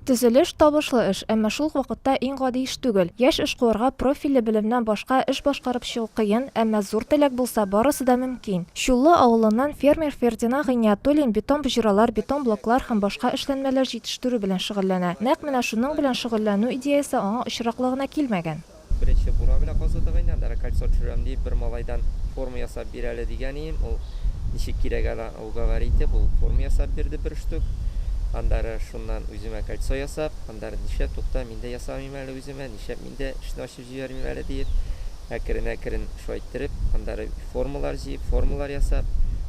Төзелеш, табышлы эш, әмма шул ук вакытта иң гади эш түгел. Яшь эшкуарга профильле белемнән башка эш башкарып чыгу кыен, әмма зур теләк булса, барысы да мөмкин. Чуллы авылыннан фермер Фердина Гыйниятуллин бетон боҗралар, бетон блоклар һәм башка эшләнмәләр җитештерү белән шөгыльләнә. Нәкъ менә шуның белән шөгыльләнү идеясе аңа очраклы гына килмәгән. Беренче бура белән казыдык инде, анда кольцо төшерәм дип, бер малайдан форма ясап бир әле дигән идем, ул ничек кирәк әле уговори итеп, ул форма ясап бирде бер штук. Аннары шуннан үземә кольцо ясап, аннары нишләп, тукта, мин дә ясамыйм әле үземә, нишләп мин дә эшне ачып җибәрмим әле диеп, әкрен-әкрен шулай иттереп, аннары. Формалар җыеп, формалар ясап,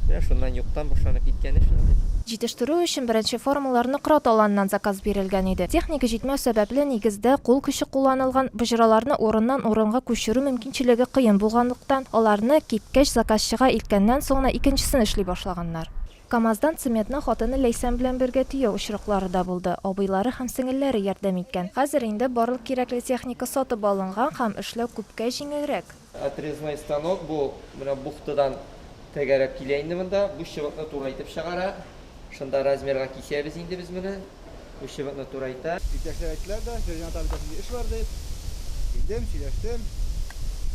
менә шуннан юктан башланып киткән эш инде. Җитештерү өчен беренче формалар Нократ аланыннан заказ бирелгән иде. Техник җитмәү сәбәпле, нигездә, кул көче кулланылган, боҗраларны урыннан-урынга күчерү мөмкинчелеге кыен булганлыктан, аларны, кипкәч, заказчыга илткәннән соң гына икенчесен эшли башлаганнар. КАМАЗдан цементны хатыны Ләйсән белән бергә төяү очраклары да булды, абыйлары һәм сеңелләре ярдәм иткән. Хәзер инде барлык кирәкле техника сатып алынган һәм эшләү күпкә җиңелрәк. Отрезной станок бу менә бухтадан тәгәрәп килә инде монда. Бу чыбыкны турайтып чыгара. Шунда размерга кисәбез инде без моны. Бу чыбыкны турайта. Иптәшләр әйттеләр дә, Фәрҗәнә апа бездә шундый эш бар дип. Килдем, сөйләштем.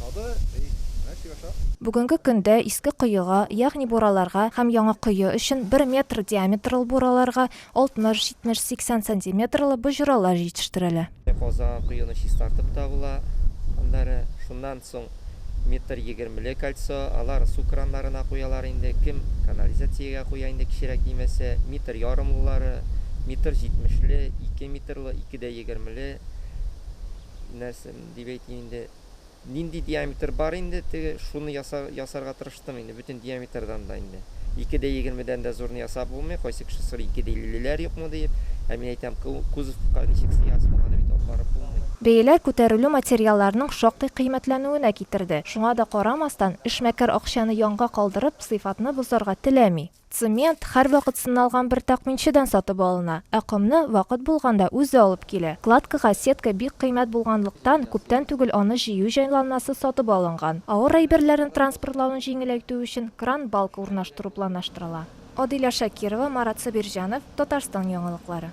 Сабыр, әй, менә эшли башлап. Бүгенге көндә Иске Коега, ягъни бураларга һәм Яңа Кое өчен бер метр диаметрлы бураларга 60-70-80 сантиметрлы боҗралар җитештерәлә. Каза коены чистартып табыла, аннары шуннан соң метр егермеле кольцо, алар су краннарына куялар инде, кем канализациягә куя инде кечерәк нимәсе, метр ярымлылары, метр җитмешле, ике метрлы, ике дә егермеле нәрсә дип әйтим инде. Нинди диаметр бар инде теге, шуны яса, ясарга тырыштым инде, бөтен диаметрдан да инде. Ике дә егермедән дә зурны ясап булмый, кайсы кеше сорый, ике дә иллеләр юкмы диеп, ә мин әйтәм, кузовка ничек сыясың, аны бит алып барып булмый. Бәяләр күтәрелү материалларның шактый кыйммәтләнүенә китерде. Шуңа да карамастан, эшмәкәр акчаны янга калдырып, сыйфатны бозарга теләми. Цемент һәрвакыт сыналган бер такминчыдан сатып алына, ә комны вакыт булганда үзе алып килә. Кладкага сетка бик кыйммәт булганлыктан, күптән түгел аны җыю җайланмасы сатып алынган. Авыр әйберләрне транспортлауны җиңеләйтү өчен кран-балка урнаштыру планлаштырыла. Адилә Шакирова, Марат Сабирҗанов, Татарстан яңалыклары.